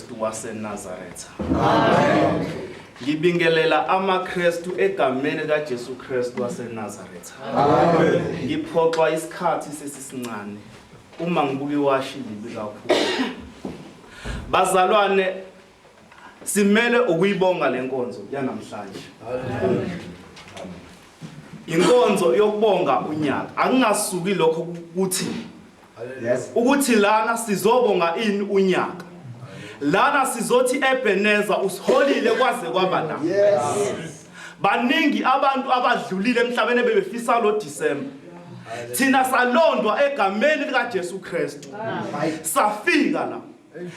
Kristu waseNazaretha. Amen. Ngibingelela amaKristu egameni kaJesu Kristu waseNazaretha. Amen. Ngiphoxwa isikhathi sesisincane uma ngibuka iwashi libi kakhulu. Bazalwane simele ukuyibonga lenkonzo yanamhlanje. Amen. Inkonzo yokubonga unyaka akungasuki lokho ukuthi Yes. ukuthi lana sizobonga ini unyaka lana sizothi ebeneza usiholile kwaze kwaba la baningi abantu abadlulile emhlabeni ebebefisa lo December thina salondwa egameni likaJesu Kristu safika la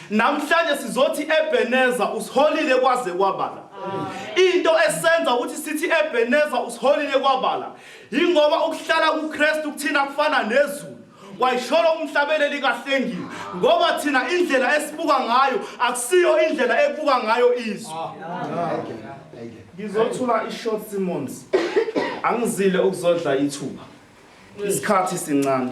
Namhlanje sizothi Ebeneza usiholile kwaze kwabala. Into esenza ukuthi sithi Ebeneza usiholile kwabala ingoba ukuhlala kuKristu kuthina kufana nezulu. Wayisholo umhlabeleli kahlengile ngoba thina indlela esibuka ngayo akusiyo indlela ebuka ngayo izwe. Ngizothula iShort Simmons. Angizile ukuzodla ithuba. Isikhathi sincane.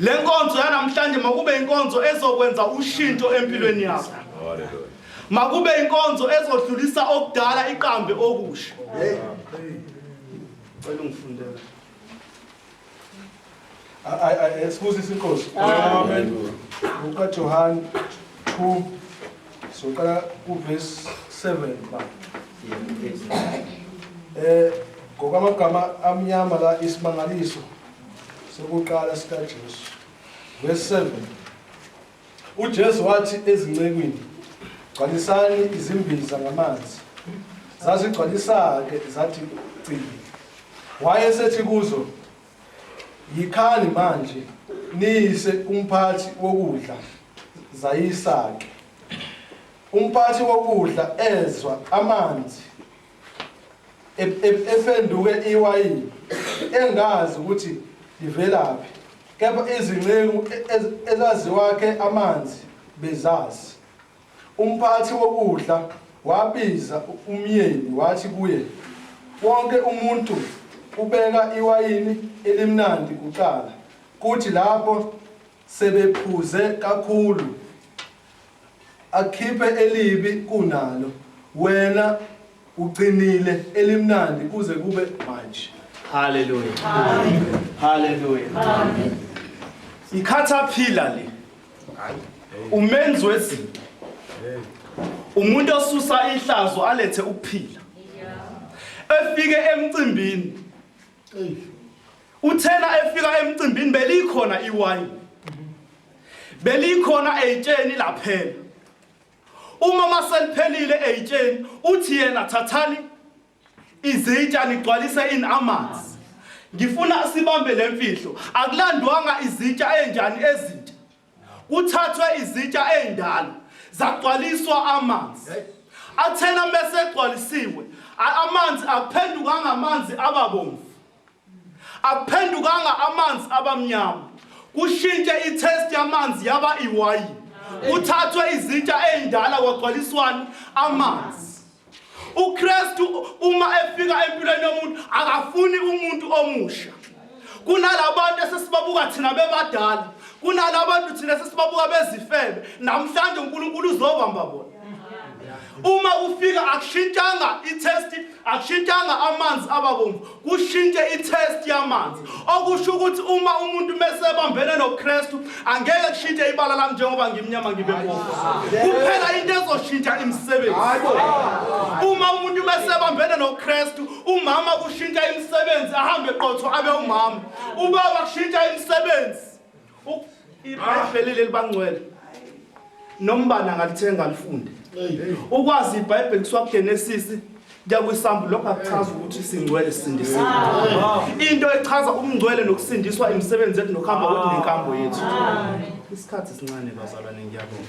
Le nkonzo yanamhlanje makube inkonzo ezokwenza ushintsho empilweni yakho. Makube inkonzo ezodlulisa okudala iqambe okusha. Cela ungifundele. Ay ay excuse sinkosi. Amen. Uka Johan 2 soqala ku verse 7 ba. Eh ngokwamagama amnyama la isimangaliso sokuqala sikaJesu. Verse 7. UJesu wathi ezincekwini, gcwalisani izimbiza ngamanzi. Zazigcwalisa-ke zathi cibi. Wayesethi kuzo, yikhani manje niyise umphathi wokudla zayisa-ke. Umphathi wokudla ezwa amanzi efenduke iwayini engazi ukuthi livelaphi kepha izinceku ezaziwakhe amanzi bezazi umphathi wokudla wabiza umyeni wathi kuye wonke umuntu ubeka iwayini elimnandi kuqala kuthi lapho Sebephuze kakhulu akhiphe elibi kunalo wena ugcinile elimnandi kuze kube manje. Hallelujah. Hallelujah. Amen. Ikhathaphila le. Umenzi wezinto. Umuntu osusa ihlazo alethe ukuphila. Efike emcimbini. Uthena efika emcimbini belikhona iwayini. Belikhona eyitsheni laphela. Uma maseliphelile eyitsheni uthi yena thathani izitsha nigcwalise in amanzi. Ngifuna sibambe lemfihlo. Akulandwanga izitsha enjani ezintsha. Kuthathwe izitsha ezindala zagcwaliswa amanzi. Athena mese egcwalisiwe amanzi akuphendukanga amanzi ababomvu. Akuphendukanga amanzi abamnyama. Kushintshe i-taste yamanzi yaba iwayini. Kuthathwe izitsha ezindala kwagcwaliswani amanzi. UKristu uma efika empilweni yomuntu akafuni umuntu omusha. Kunalabantu esesibabuka thina bebadala, kunalabantu thina sesibabuka bezifebe. Namhlanje uNkulunkulu uzobamba bona. uma ufika akushintshanga i-test akushintshanga amanzi ababomvu kushintshe i-test yamanzi okusho ukuthi uma umuntu mesebambene nokristu angeke kushintshe ibala lami njengoba ngimnyama ngibe bomvu kuphela into ezoshintsha imisebenzi uma umuntu mesebambene nokristu umama kushintsha imisebenzi ahambe qotho abe umama ubaba kushintsha imisebenzi ibhayibheli leli bangcwele nombani angalithenga alifunde ukwazi ibhayibheli kuswa kugenesisi kuyakwisambu lokho akuchaza ukuthi singcwele sisindisiwe into echaza umngcwele nokusindiswa imisebenzi yethu nokuhamba kwethu nenkambo yethu isikhathi sincane bazalwane ngiyabonga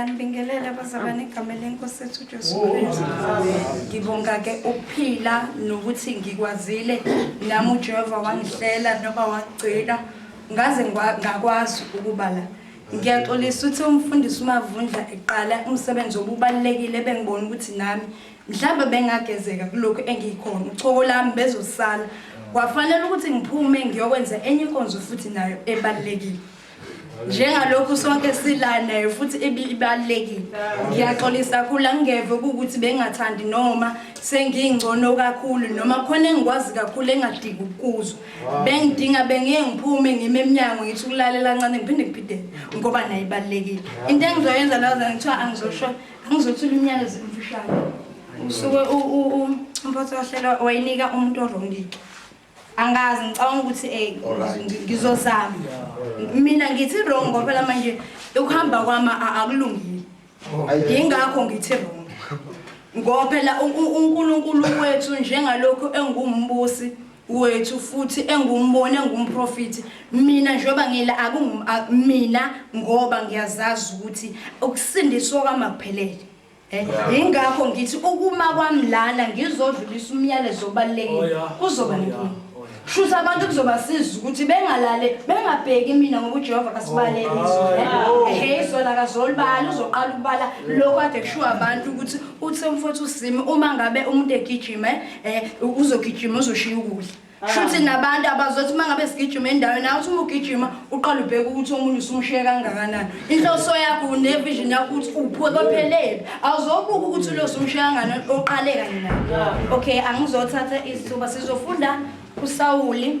ngiyanibingelela bazalwane igama lenkosi ethu ujesu kristu ngibonga-ke ukuphila nokuthi ngikwazile nami ujehova wangihlela noba wagcina ngaze ngakwazi ukuba la ngiyaxolisa ukuthi umfundisi umavundla eqala umsebenzi obubalulekile ebengibona ukuthi nami Mhlawumbe bengagezeka kulokhu engiyikhona, uchoko lami bezosala. Kwafanele ukuthi ngiphume ngiyokwenza enye inkonzo futhi nayo ebalulekile. Njengalokhu sonke sila nayo futhi ibibalekile. Ngiyaxolisa khula ngingeve ukuthi bengathandi noma sengingcono kakhulu noma khona engikwazi kakhulu engadingi ukuzwa. Bengidinga bengiye ngiphume ngime eminyango ngithi ukulalela kancane ngiphinde ngipide ngoba nayibalekile. Into engizoyenza laza ngithiwa angizosho Angizothula imiyalezo emfishane. Usuke umphathi wahlelo wayinika umuntu orongike. Angazi ngicabanga ukuthi eh ngizozama. Mina ngithi wrong ngoba phela manje ukuhamba kwama akulungile. Yingakho ngithi wrong. Ngoba phela uNkulunkulu wethu njengalokho engumbusi wethu futhi engumboni engumprofiti mina njengoba ngila akungu mina ngoba ngiyazazi ukuthi ukusindiswa kwamakuphelele eh, ingakho ngithi ukuma kwami lana ngizodlulisa umyalezo obalekile oh, kuzoba oh, nenkinga oh, shuthi abantu kuzobasiza ukuthi bengalale bengabheki mina ngoba uJehova kasibaleliso eh, hey sona kazolibali uzoqala ukubala lokho ade kushiwo abantu ukuthi uthe mfowethu usimi uma ngabe umuntu egijima eh, Eh uzogijima uzoshiya ukudla. Ah. Shuthi nabantu abazothi mangabe sigijima endaweni nawe uthi uma ugijima uqala ubheka ukuthi omunye usumshiye kangakanani. Inhloso yakho ne vision yakho ukuthi uphuke kophelele. Awuzobuka ukuthi lo usumshiye kangakanani oqale kanye naye. Ah. Okay angizothatha isithuba sizofunda uSawuli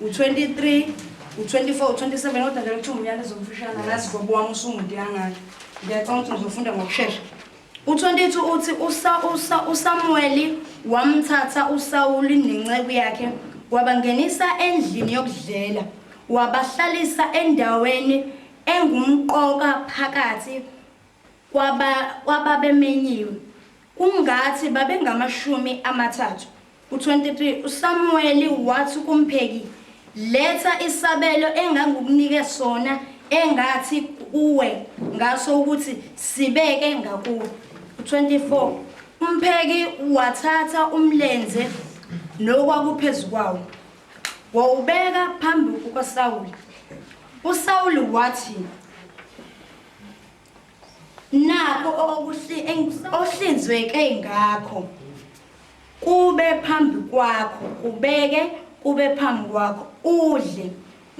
U-23, u-24, u-27 kodwa ngeke kuthiwa umyalezo omfishane angazi gobo wami usumude kangaka. Ngiyacabanga ukuthi ngizofunda ngokushesha. U-22 uthi usa usa uSamuweli wamthatha uSawuli nenceku yakhe wabangenisa endlini yokudlela wabahlalisa endaweni engumqoka phakathi kwaba kwababemenyiwe. Kungathi babengamashumi amathathu. U-23 uSamuweli wathi kumpheki, Letha isabelo engangikunike sona engathi kuwe ngaso ukuthi sibeke ngakuwe. U-24 umpheki wathatha umlenze nokwakuphezu kwawo, wawubeka phambi kukaSawuli. USawuli wathi, Nakho okuhlinzweke ngakho kube phambi kwakho kubeke kube phambi kwakho udle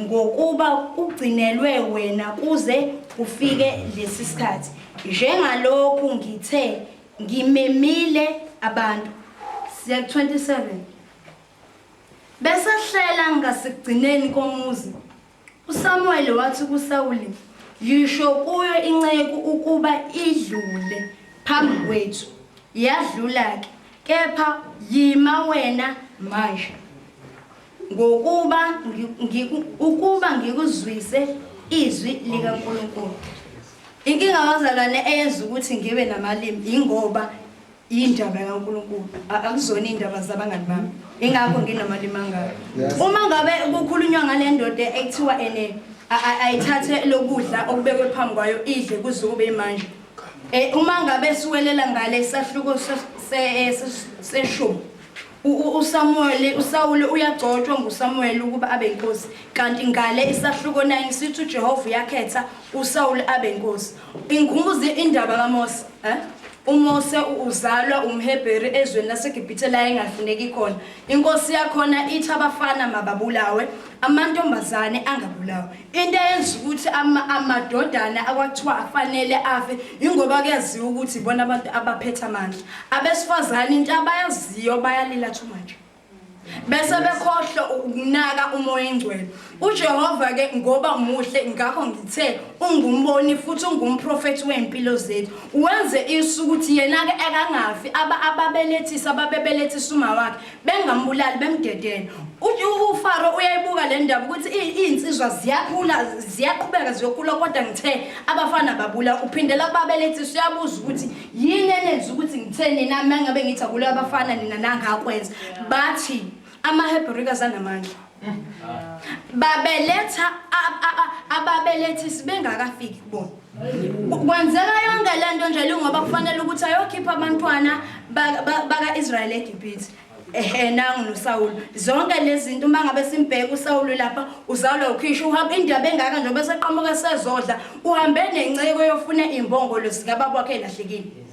ngokuba kugcinelwe wena kuze kufike lesi sikhathi njengalokhu ngithe ngimemile abantu siya 27 besehlela ngasekugcineni komuzi USamuweli wathi kuSawuli, Yisho kuyo inceku ukuba idlule phambi kwethu. Yadlula-ke, kepha yima wena manje, ngokuba ukuba ngikuzwise izwi likaNkulunkulu. Inkinga bazalwane eyenza ukuthi ngibe namalimi yingoba Yindaba kaNkulunkulu, a- akuzona iy'ndaba zabangani bami. Ingakho nginemali mangaka. Uma ngabe kukhulunywa ngale ndoda ekuthiwa ene a- a- ayithathe lokudla okubekwe phambi kwayo idle kuze kube imanje. Eh uma ngabe siwelela ngale sahluko se- se- eh, se- seshumi. u- u- uSamuel uSawule uyagcotshwa nguSamuel ukuba abe inkosi kanti ngale isahluko 9 sithi uJehova uyakhetha uSawule abe inkosi. Ingubuze indaba kaMose, eh? UMose uzalwa umHebheru ezweni laseGibhithe la engafuneki khona. Inkosi yakhona ithi abafana mababulawe, amantombazane angabulawa. Into eyenza ukuthi ama, amadodana akwathiwa afanele afe yingoba kuyaziwa ukuthi ibona abantu abaphethe amandla. Abesifazane into abayaziyo bayalila too much. bese bekhohlwa ukunaka umoya engcwele ujehova ke ngoba muhle ngakho ngithe ungumboni futhi ungumprofethi wey'mpilo zethu wenze isu ukuthi yena-ke akangafi ababelethisa ababebelethisa uma wakhe bengambulali bemdedele ufaro uyayibuka le ndaba ukuthi iy'nsizwa ziyakhula ziyaqhubeka ziyokhula kodwa ngithe abafana babula uphindela kubabelethisa uyabuza ukuthi yini enenza ukuthi ngithe nina uma ngabe ngithi akuleyo abafana nina nangakwenza bathi amahebrika zanamandla babeletha ababelethi sibengakafiki kubona kwenzeka yonke le nto nje lungoba kufanele ukuthi ayokhipha abantwana baka-israyeli egibhithe ehe nangu nosawulu zonke lezi zinto uma ngabe simbheka usawulu lapha uzalwa ukhisha uhamba indaba engaka njengoba seqhamuka sezodla uhambe nenceko yofuna imbongolo zikababa wakhe elahlekile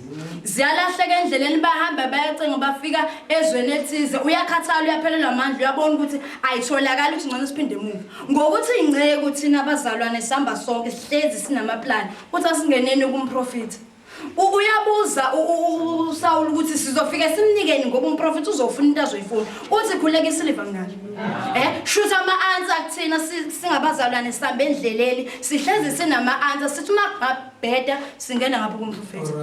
ziyalahleka endleleni bahamba bayacinga bafika ezweni ethize uyakhathala uyaphelelwa amandla uyabona ukuthi ayitholakali ukuthi ngcono siphinde emuva ngokuthi ingceku thina abazalwane sihamba sonke sihlezi sinamaplani ukuthi asingeneni kumprofitha U- uyabuza u- u- u- usawula ukuthi sizofike simnikeni ngoba umprofethi uzofuna into azoyifuna uthi khuleka isiliva ngani um shuthi ama-ansa kuthina si- singabazalwane sihamba endleleni sihlezi sinama-ansa sithi uma kungabheda singena ngapho kumprofethi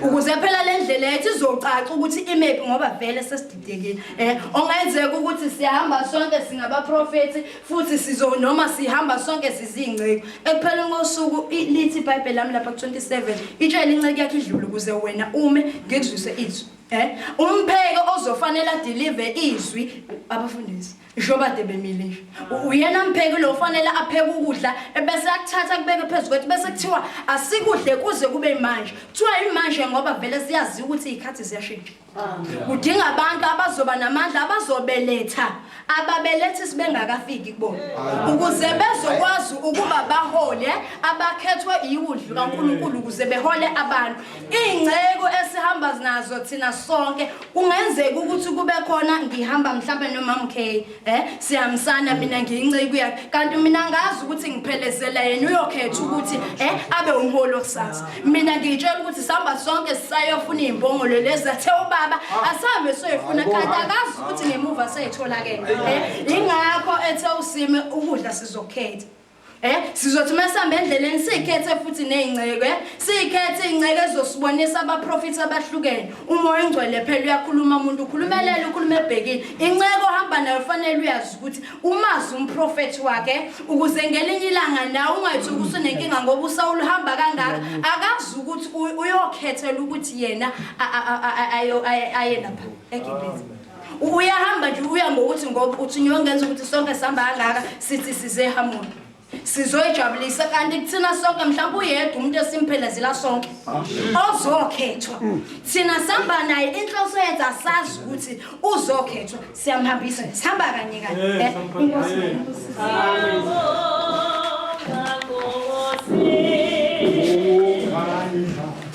ukuze phela le ndlela yethu izocaca ukuthi imephi ngoba vele sesididekile um ongenzeka ukuthi siyahamba sonke singabaprofethi futhi sizo noma sihamba sonke sizingceki ekupheleni kosuku i- lithi ibhayibheli lami lapha ku-27 itshele inceki yakhe idlule ukuze wena ume ngikuzwise izwi um umpheke ozofanele adilive izwi abafundisi njobade bemile nje U- uyena mpheki lo ufanele apheke ukudla ebese akuthatha kubeke phezu kwethu bese kuthiwa asikudle kuze kube manje kuthiwa yimanje ngoba vele siyaziwa ukuthi iy'khathi ziyashintsha kudinga abantu abazoba namandla abazobeletha ababelethi sibengakafiki kubona ukuze bezokwazi ukuba bahole abakhethwe iwudlu kaNkuluNkulu ukuze behole abantu ingceko esihamba nazo thina sonke kungenzeka ukuthi kube khona ngihamba mhlawumbe nomamkhey Eh siyamsana mina ngiyinceku yakhe kanti mina ngazi ukuthi ngiphelezela yena uyokhetha ukuthi eh abe umholi okusasa mina ngitshela ukuthi sihamba sonke sisayofuna izimbongolo lezi athe ubaba asambe soyifuna kanti akazi ukuthi ngemuva seyitholakele eh ingakho ethe usime ukudla sizokhetha Eh sizothi masihamba endleleni sikhethe futhi nezingceke eh? sikhethe ingceke ezosibonisa abaprofits abahlukene uma oyingcwele phela uyakhuluma umuntu ukhulumelela ukhuluma ebhekile inceke ohamba nayo fanele uyazi ukuthi umazi umprofeti wakhe eh? ukuze ngelinye ilanga nawe ungathi usunenkinga ngoba usawuluhamba kangaka akazi ukuthi uyokhethela ukuthi yena aye lapha ekibhizi uyahamba nje uya ngokuthi ngoba uthunywe ngenza ukuthi sonke sihamba kangaka sithi size ehamoni sizoyijabulisa kanti kuthina sonke mhlawumbe uyedwa umuntu esimphelezela sonke ozokhethwa thina sihamba naye inhloso yethu asazi ukuthi uzokhethwa siyamhambisa sihamba kanye kanye eh,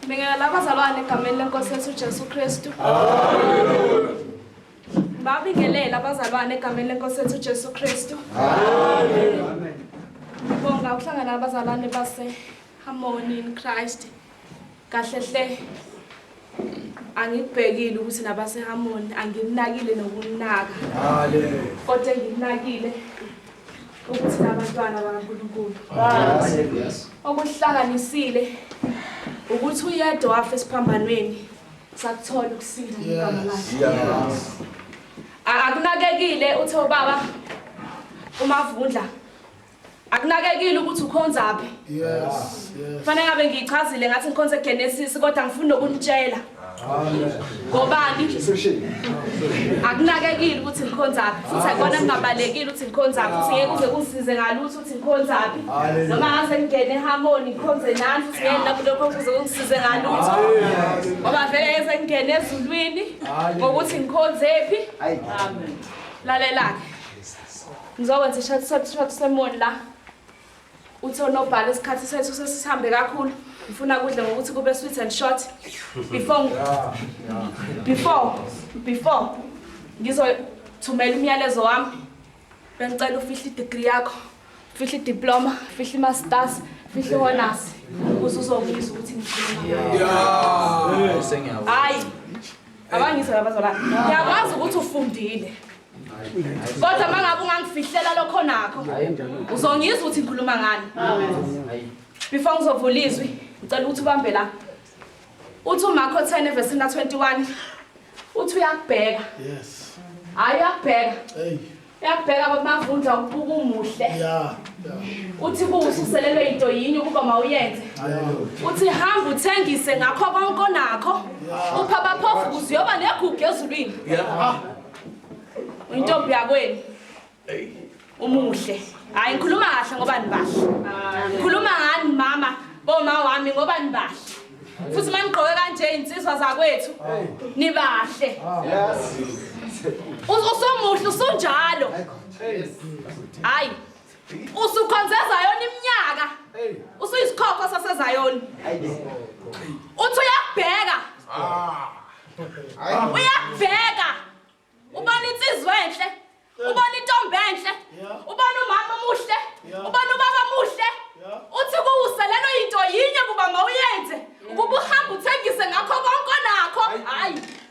Ngibingelela abazalwane egameni lenkosi yethu uJesu Kristu. Haleluya. Babingelela abazalwane egameni lenkosi yethu uJesu Kristu. Haleluya. Amen. Ngibonga ukuhlangana abazalwane base Harmony in Christ. Kahle hle angikubhekile ukuthi nabase Harmony anginakile nokunaka. Haleluya. Kodwa nginakile ukuthi nabantwana bakaNkulunkulu okuhlanganisile ukuthi uyedwa wafa esiphambanweni sakuthola ukusinda igama lakhe akunakekile uthe ubaba umavundla akunakekile ukuthi ukhonzaphi yes yes fanele ngabe ngiyichazile ngathi ngikhonze Genesis kodwa ngifuna ukunitshela ngobani akunakekile ukuthi ngikhonzaphi futhi akubona kungabalekile ukuthi ngikhonzaphi futhi ngeke uze kungisize ngalutho ukuthi ngikhonzaphi noma ngase ngingene ehamoni ngikhonze nani futhi ngeke lapho lokho kuze kungisize ngalutho ngoba vele ngeze ngingene ezulwini ngokuthi ngikhonzephi lalelake ngizokwenza ishathishathi semoni la Uthi onobhala isikhathi sethu sesihambe kakhulu. Ngifuna kudla ngokuthi kube sweet and short. Before before before ngizothumela umyalezo wami. Bengicela ufihle i-degree yakho. Fihle i-diploma, fihle i-masters, fihle i-honors. Ukuze uzokuzwa ukuthi ngikhuluma. Yeah. Sengiyawa. Hayi. Abangizwa abazalwane. Ngiyakwazi ukuthi ufundile. kodwa uma ngabe ungangifihlela lokho nakho uzongizwa ukuthi ngikhuluma ngani before ngizovula izwi ngicela ukuthi ubambe la uthi umakho 10 evesini ka-21 uthi uyakubheka hhayi uyakubheka uyakubheka babavundla ukubuka umuhle uthi kuwususelelwe yinto yinye ukuba mawuyenze uthi hamba uthengise ngakho konke onakho upha baphofu kuze uyoba negugu ezulwini Uyintombi yakwenu. Hey. Umuhle. Hayi ngikhuluma kahle ngoba nibahle. Ngikhuluma ngani mama boma wami ngoba nibahle. Futhi manigqoke kanje insizwa zakwethu nibahle. Yes. Usomuhle usunjalo. Hayi. usukhonze ezayona iminyaka usuyisikhokho sasezayona uthi uyakubheka ah. uyakubheka ubona insizwa enhle ubona intombi enhle ubona umama omuhle ubona ubaba omuhle uthi kuwuse lelo yinto yinye kuba mawuyenze ukuba uhambe uthengise ngakho konke onakho hayi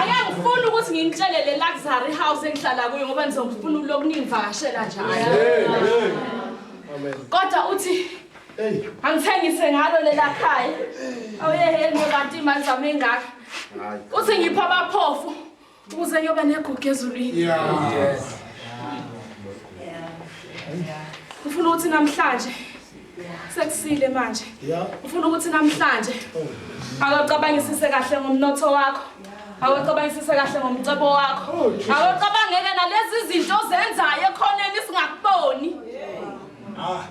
ayangifuni ukuthi nginitshele le luxury house engihlala kuyo ngoba nizongifuna ulo kuningivakashela njalo kodwa uthi angithengise ngalo lela khaya awuyeheni kanti imali zami engaka uthi ngipha abaphofu ukuze ngiyoba negugu ezulwini ufuna ukuthi namhlanje Sekusile manje. Ngifuna ukuthi namhlanje akacabangisise kahle ngomnotho wakho. Akacabangisise kahle ngomcebo wakho. Oh, Akacabangeke nalezi zinto ozenzayo ekhoneni singakuboni. Ah.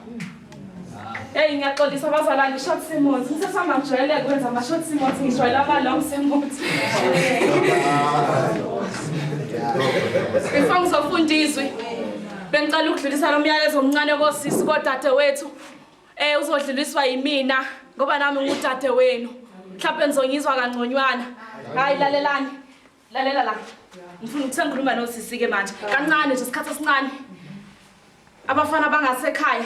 Hey ngiyaxolisa abazalwane ngi-short simuthi ngisesangajwayele kwenza ama-short simuthi ngijwayela ama-long simuthi before ngizofunda izwi Bengicela ukudlulisa lo myalezo omncane kosisi kodadewethu. Eh uzodluliswa yimina ngoba nami ngudade wenu. Mhlawumbe nizongizwa kangconywana. Hayi lalelani. Lalela la. Ngifuna ukusengikhuluma nosisi ke manje. Kancane nje isikhathi esincane. Abafana bangasekhaya.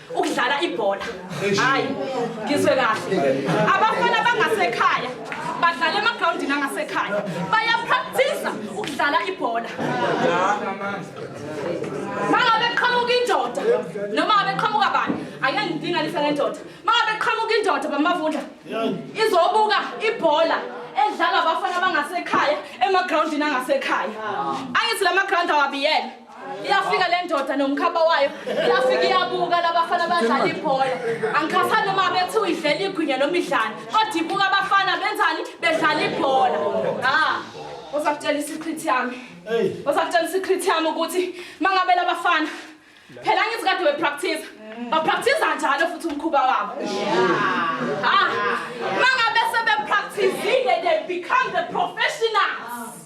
ukudlala ibhola hayi ngizwe kahle abafana bangasekhaya badlala emagrawundini angasekhaya bayapraktisa ukudlala ibhola mangabe qhamuka indoda noma ngabe qhamuka bani ayengidinganisa ngendoda mangabe qhamuka indoda bamavundla izobuka ibhola edlala abafana abangasekhaya emagrawundini angasekhaya angithi la magrawundi awabiyele Iyafika le ndoda nomkhaba wayo, iyafika iyabuka labafana abadlala ibhola. Angikhathali noma bethi uyidlela igwinya noma idlala, kodwa ibuka abafana benzani bedlala ibhola. Ha, uzakutshela i-secret yami. Uzakutshela i-secret yami ukuthi mangabe labafana phela ngithi kade bepractice. Bapractice njalo futhi umkhuba wabo. Ha, mangabe sebepracticile they become the professionals.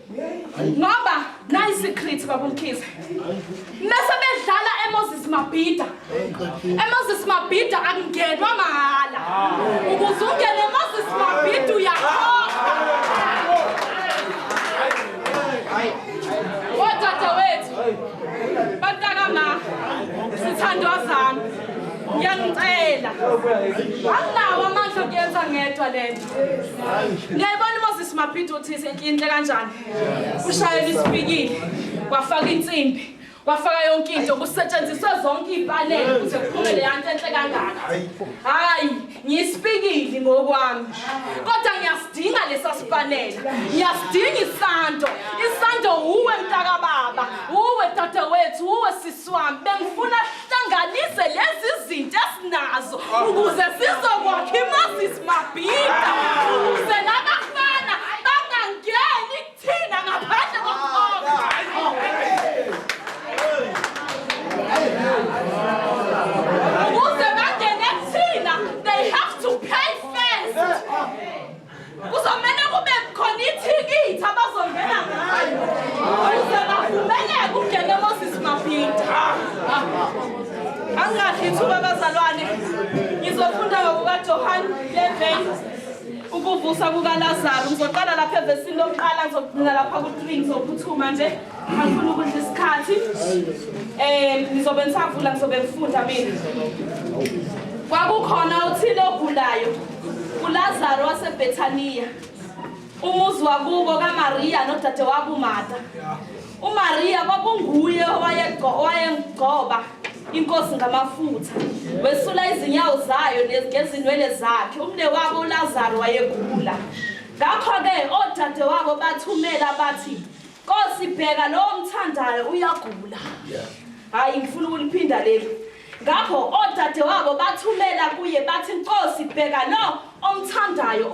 ngoba nayi secret babumkhize mese bedlala emoses mabhida emoses mabhida akungenwa mahhala ukuze ungene emoses mabhida uyakhokha odadewethu bantakama sithandwa zami ngiyangicela anginawo amandla okuyenza ngedwa le nto Ngiyayibona uMoses Mabhidi uthi senkinhle kanjani. Ushayela isipikili, wafaka insimbi. wafaka yonke into kusetshenziswe zonke iy'panele ukuze kuphume le yanto enhle kangaka hhayi ngiyisipikili ngokwami kodwa ngiyasidinga lesa sipanela ngiyasidinga isanto isanto wuwe mntakababa wuwe dadewethu wuwe sisi Swami bengifuna hlanganise lezi zinto esinazo ukuze sizokwakha imazis mabhida ukuze labafana bangangeni kuthina ngaphandle kokukhokha. Ukuze bangene kuthina they have to pay first. Kuzomele kube khona ithikithi abazongena ngayo ukuze bavumeleke ukungena eMoses Mabhinta. Angahle ithuba abazalwane ngizofunda ngokukaJohane 11 ukuvusa kukaLazaru ngizoqala lapha evesini lokuqala ngizogcina lapha ku-3 ngizophuthuma nje angifuna ukudla isikhathi um ngizobe ngisavula ngizobe ngifunda mina kwakukhona othile ogulayo ULazaro waseBethaniya, umuzi wakubo kaMariya nodadewabo uMarta. UMariya kwakunguye owayengcoba inkosi ngamafutha wesula izinyawo zayo ngezinwele zakhe umne wabo ulazaro wayegula ngakho-ke odade wabo bathumela bathi nkosi bheka lowo mthandayo uyagula hhayi ngifuna ukuliphinda leli Ngakho odadewabo bathumela kuye bathi, Nkosi, bheka lo omthandayo.